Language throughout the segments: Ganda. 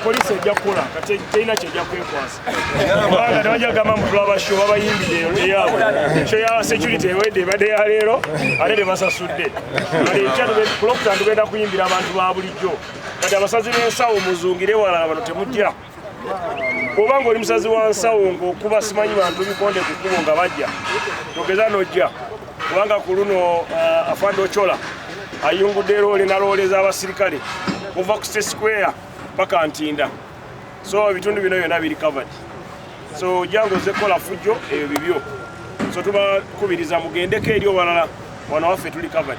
poliisi ejja kukola kati terina kyejja kwekwasa kubanga tebajja gamba mbu tulabasho babayimbidde eyabwe kyo ya security ewedde ebadde ya leero ate tebasasudde kati ekya kulokutandugenda kuyimbira abantu ba bulijjo kati abasazi b'ensawo muzungire walala bano temujja oba ngaoli musazi wa nsawo ngaokuba simanyi bantu bikonde ku kkubo nga bajja togeza nojja kubanga ku luno uh, afande ocola ayungudde eroole nalooleza abasirikale kuva ku state square paka ntinda so ebitundu bino byona biri covered so jangu oze kukola fujjo ebyo bibyo so tubakubiriza mugendeko eri owalala wana waffe tuli covered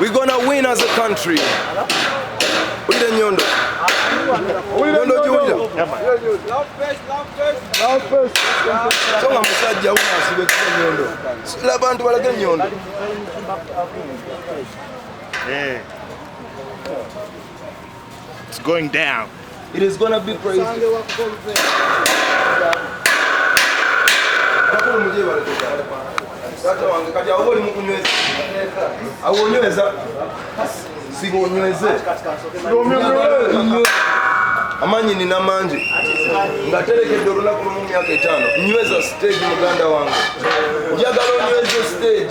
We're gonna win as a country. Wulira ennyondo. Nnyondo giwulira. So nga musajja wuno asiba ekisa ennyondo. Sula abantu balage ennyondo. Eh. It's going down. It is gonna be crazy. Awonyweza sigonyweze amanyi nina mangi nga terekedde olunaku lumu myaka etaano nyweza stage muganda wange njagala onyweze stage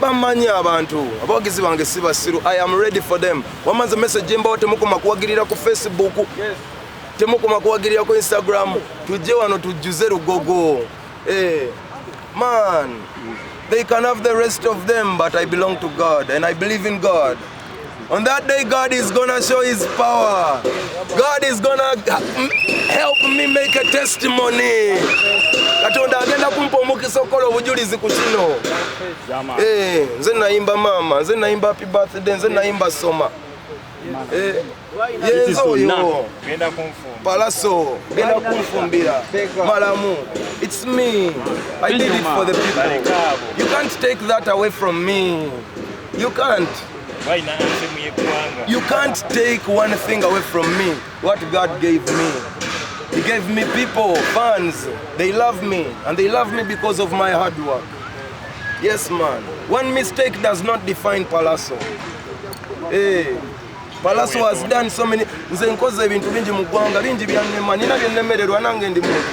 bamanyi abantu abawagizi bange si basiru i am ready for them wamanze message mbawo temukoma kuwagirira ku facebook temukoma kuwagirira ku instagram tujje wano tujjuze lugogo eh, man they can have the rest of them but i belong to god and i believe in god On that day, God is gonna show His power. God is gonna help me make a testimony. Katonda agenda kumpa omukisa okukola obujulizi ku kino. Eh, nze nayimba maama, nze nayimba happy birthday, nze nayimba soma. Eh. yenze oyo palaso genda kunfumbira malamu it's me i did it for the people you can't take that away from me you can't you can't take one thing away from me what god gave me he gave me people fans they love me and they love me because of my hard work yes man one mistake does not define palaso hey. Eh. Palaso has done so many nze nkoze ebintu bingi mu ggwanga bingi byannema nina byennemererwa nange ndi muntu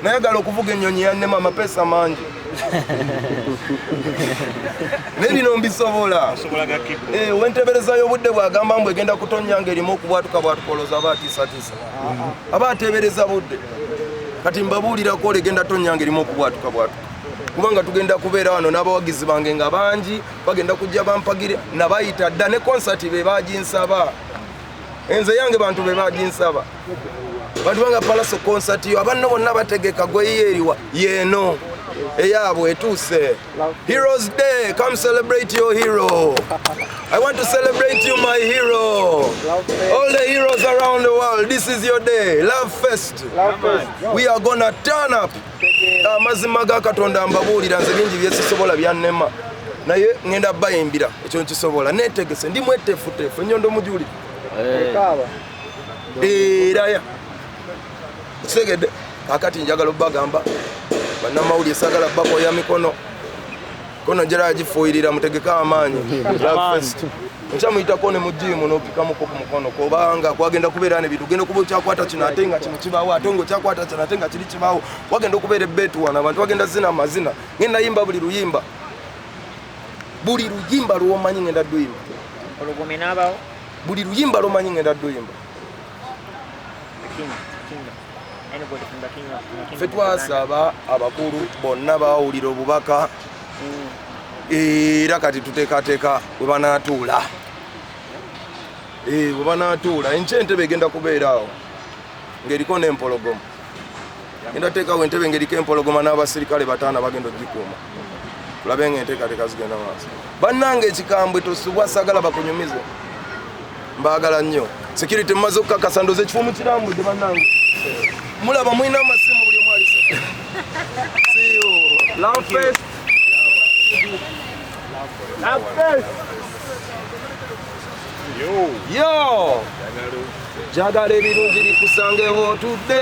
nayagala okuvuga ennyonyi yannema amapeesa mangi naye bino mbisobola eh, wentebereza y'obudde bwagamba mbu egenda kutonnya ng'erimu okubwatuka bwatukoloza aba atiisatiisa aba ateebereza budde kati mbabuulirako olegenda tonnya ng'erimu okubwatuka bwatuka kubanga tugenda kubeera wano n'abawagizi bange nga bangi bagenda kujja bampagire nabayita dda ne konsati be baginsaba enze yange bantu be baginsaba bantu banga palaso konsati yo abanno bonna bategeka gweyiyo eriwa yeeno eyabwe etuuse heroes day come celebrate your hero i want to celebrate you my hero all the heroes around the world this is your day love fest we are gonna turn up amazima ga katonda mbabuulira nze bingi byesisobola byannema naye ŋenda bayimbira ekyo nkisobola netegese ndi mwetefutefu enyondo mujuli eh. eraya kitegedde kakati njagala obagamba banamawulire sagala bakoya mikono kono njala yagifuuyirira mutegeke amaanyi nkya muyitako ne mujiimu nopikamuko ku mukono kubanga kwagenda kubeera ne bintu genda okuba okyakwata kino ate nga kino kibaawo ate nga okyakwata kino ate nga kiri kibaawo wagenda okubeera ebbeetu wano abantu bagenda zina amazina ngenda yimba buli luyimba buli luyimba lwomanyi ngenda duyimba buli luyimba lwomanyi ngenda duyimba ffe twasaba abakulu bonna bawulira obubaka mm. era kati tuteekateeka we banaatuula eh, we banaatuula enkya entebe egenda kubeeraawo ng'eriko n'empologoma genda teekawo entebe ng'eriko empologoma n'abasirikale bataano bagenda okugikuuma tulabe nga enteekateeka zigenda maaso bannange ekikambwe tosubwa sagala bakunyumize mbaagala nnyo security mumaze okukakasa ndoza ekifo mukirambudde bannange mulaba mulina amasimu buli omu alise jagala ebirungi bikusangewo otudde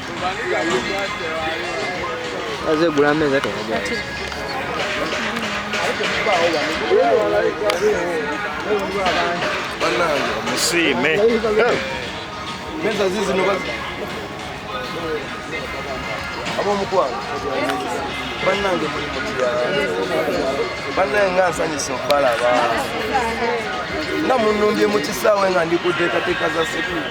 azegula ameza tenajaati banange musiime meza zizino abomukwano banange banange nga nsanyisa okubalaba nga munumbye mu kisaawe nga ndi ku nteekateeka za sekulu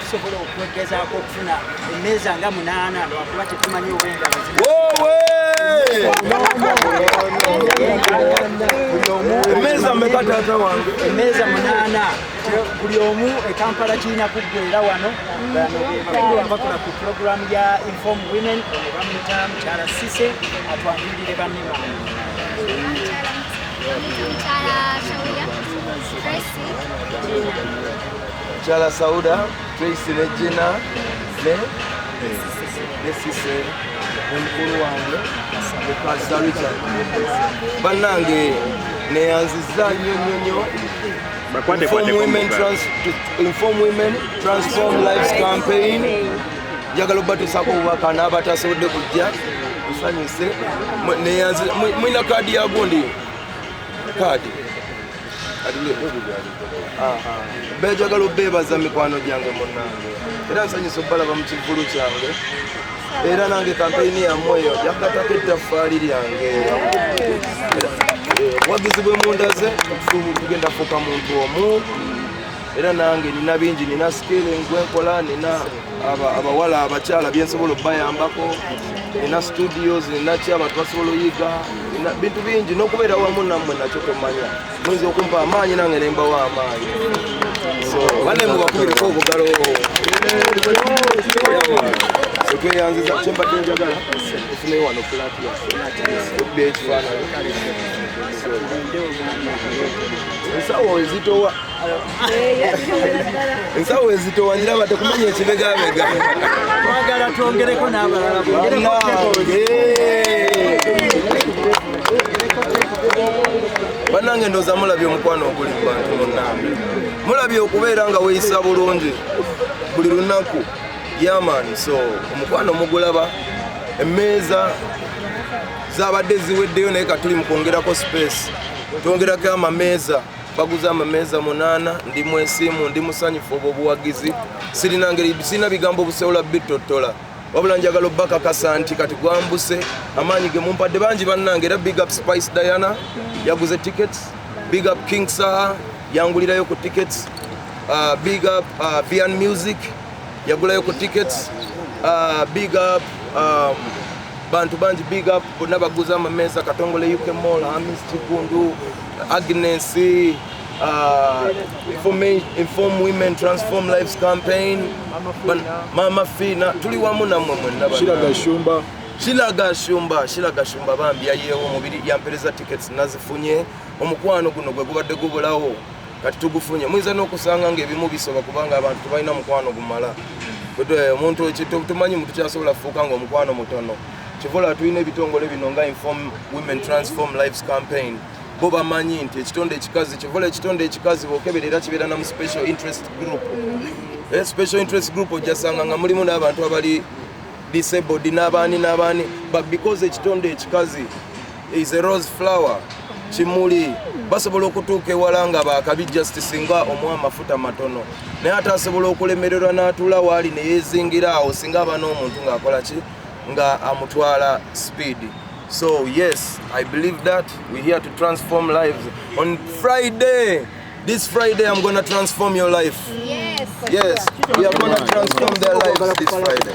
tusobola okwegezaako okufuna emmeeza nga munaana lwakuba tetumanyi obwengalo emmeeza meka taata wange emmeeza munaana buli omu ekampala kirina kuggwera wano bakola ku puroguramu ya inform women ono bamuyita mukyala sise atwanjulire banne bange Mukyala Shawiya, Tracy, Gina. Chala Sauda, Tracy Regina, ne Nesise omukulu wange Mukasa Richard. Bannange neyanziza nnyo nnyo nnyo Inform Women, Trans Inform Women Transform Lives Campaign njagala obatuusako obubaka n'abatasobodde kujja nsanyuse neyanziza mulina kaadi yagundi kaadi bejagala obeebaza mikwano gyange munange era nsanyusa obalaba mu kivulu kyange era nange kampeyini yammwe eyo yakatako ettaffaali lyange obuwagizi bwe mundaze tugenda fuuka muntu omu era nange nina bingi nina skill ngwenkola nina abawala abakyala byensobola okubayambako ina studios inaki abantu basobola oyiga bintu bingi nokubeera wamu namwe nakyo tomanya muyinza okumpa amaanyi nange nembawo amaanyi banemubakubireko obugalo tweyanziza kyembadde njagala ofune wano plati yaffe ekifaananyi ensawo ezitowa ensawo ezitowanira bate kumanya ekibegabega twagala twongereko n'abalala banange ndoza mulabye omukwano oguli mu bantu munange mulabye okubeera nga weyisa bulungi buli lunaku yaman so omukwano mugulaba emmeeza zabadde ziweddeyo naye katuli mu kwongerako space twongerako amameeza baguze amameeza munaana ndi mwesiimu ndi musanyufu obwo obuwagizi sirina ngeri sirina bigambo obuseola bitottola wabula njagala obakakasa nti kati gwambuse amaanyi ge mumpadde bangi bannange era big up spice diana yaguze tickets big up king saha yangulirayo ku tickets uh, big up uh, vian music yagulayo ku tickets uh, big up um, bantu bangi big up bonna baguza amameeza katongole uk mall hamis kigundu agnes uh, inform women transform lives campaign mama fina tuli wamu namwe mwenna kilaga shumba kilaga shumba bambi yayeewo omubiri yampereza tickets nazifunye omukwano guno gwe gubadde gubulawo kati tugufunye muyinza n'okusanga ng'ebimu bisoba kubanga abantu tebalina mukwano gumala omuntu tumanyi mu tukyasobola kufuuka ng'omukwano mutono kivola tulina ebitongole bino nga inform women transform lives campaign bo bamanyi nti ekitonde ekikazi kivola ekitonde ekikazi bokebera era kibeera namu special interest group eh, special interest group ojasanga nga mulimu n'abantu abali disabled n'abaani n'abaani but because ekitonde ekikazi is a rose flower kimuli basobola okutuuka ewala nga bakabi just singa omuwa amafuta matono naye ate asobola okulemererwa n'atuula waali neyezingira awo singa aba n'omuntu ng'akola ki nga amutwala speed so yes i believe that we here to transform lives on friday this friday i'm gonna transform your life yes, yes. we are gonna transform their lives this friday